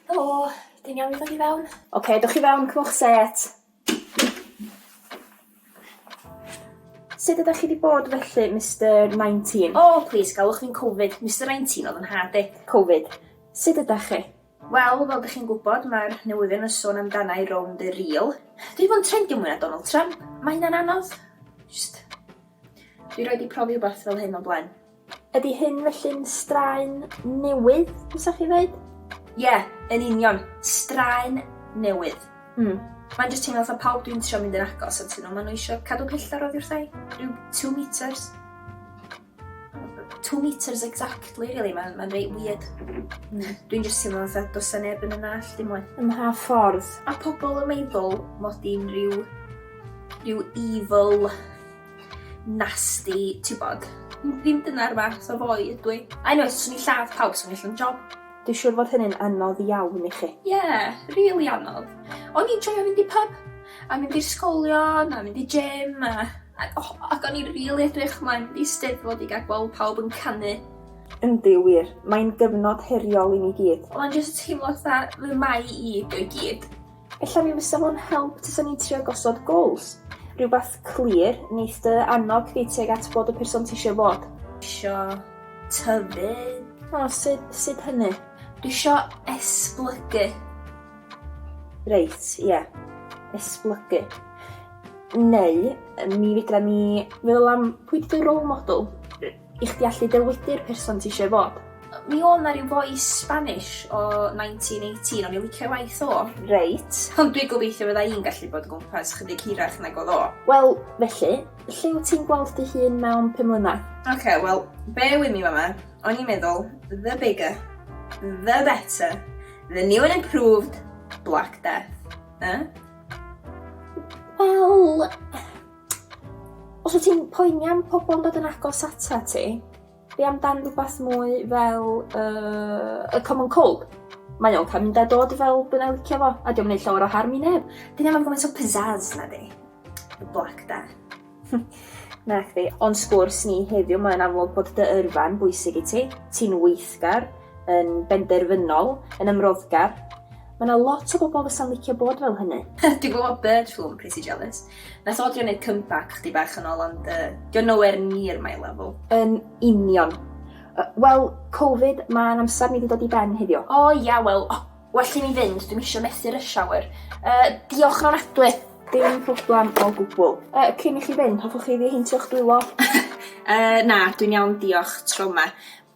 Helo! Ti'n iawn i ddod i fewn? Ocê, dowch i fewn, cymwch set. Sut ydych chi wedi bod felly, Mister 19? O, plis, galwch fi'n Covid. Mister 19 oedd yn nhad i. Covid. Sut ydych chi? Wel, fel dych chi'n gwybod, mae'r newyddion yn sôn amdana i rownd y rîl. Dwi fo'n trendio mwy na Donald Trump. Mae hynna'n anodd. Just... Dwi roi di profi rhywbeth fel hyn o blaen. Ydy hyn felly'n straen newydd, fysa chi ddeud? Ie, yeah, yn union. Straen newydd. Mm. Mae'n just teimlo fatha pawb dwi'n trio mynd yn agos at nhw, maen nhw eisiau cadw pellter oddi wrthai, rhyw 2 metres. 2 metres exactly, really, mae'n ma reit weird. Mm. Dwi'n just teimlo fatha dos a neb yn yna all dim mwy. Ym mha ffordd? A pobl yn meddwl mod i'n rhyw, rhyw evil nasty, tibod. Ddim dyna'r fath o foi ydw i. I know, os swn i'n lladd pawb swn i'n llym job. Dwi'n siŵr fod hynny'n anodd iawn i chi. Ie, rili anodd. O'n i'n joio mynd i pyb, a mynd i'r sgolion, a mynd i gym, a a o ac o'n i rili edrych mlaen i Steddfod i ga'l gweld pawb yn canu. Yndi, wir. Mae'n gyfnod heriol i ni gyd. Ond jyst teimlo fatha fy mai i ydi o i gyd. Ella mi fysa fo'n help tasa ni'n trio gosod goals. Rhywbeth clir, neith dy annog chdi tuag at bod y person tisio fod. Isio tyfu. O, sut, sut hynny? Isio esblygu. Reit, ie. Yeah. Esblygu. Neu, mi fedra ni feddwl am pwy 'di dy role model? I chdi allu dywydu'r person ti eisiau fod. Mi oedd 'na ryw foi Spanish o 1918, o'n i'n licio'i waith o. Reit. Ond dwi'n gobeithio fydda i'n gallu bod o gwmpas chydig hirach nag oedd o. Wel, felly, lle wyt ti'n gweld dy hun mewn pum mlynedd? Ok, wel, bear with me fama. O'n i'n meddwl, the bigger, the better, the new and improved Black Death. Yy? Wel... Os wyt ti'n poeni am pobl yn dod yn agos ata ti, be amdan rhywbeth mwy fel uh, y common cold? Mae o'n cael mynd a dod fel dwi'n ei licio fo, a diolch yn ei llawer o harm i neb. Dyn nhw'n gwneud o pizzazz na di. Black da. na chdi. Ond sgwrs ni heddiw, mae'n amlwg bod dy yrfa'n bwysig i ti. Ti'n weithgar, yn benderfynol, yn ymroddgar, Mae yna lot o bobl fysa'n licio bod fel hynny. Dwi'n gwybod bird flu yn pretty jealous. Nath o drio neud comeback chdi bach yn ôl ond yy 'di o nowhere near my level. Yn union. Yy wel Covid ma'n amsar ni 'di dod i ben heddiw. O ia wel o well i mi fynd dwi'm isio methu rush hour. Yy diolch yn ofnadwy! Dim problem o gwbwl. Yy cyn i chi fynd hoffwch chi ddiheintio'ch dwylo? Yy na dwi'n iawn diolch, tro 'ma.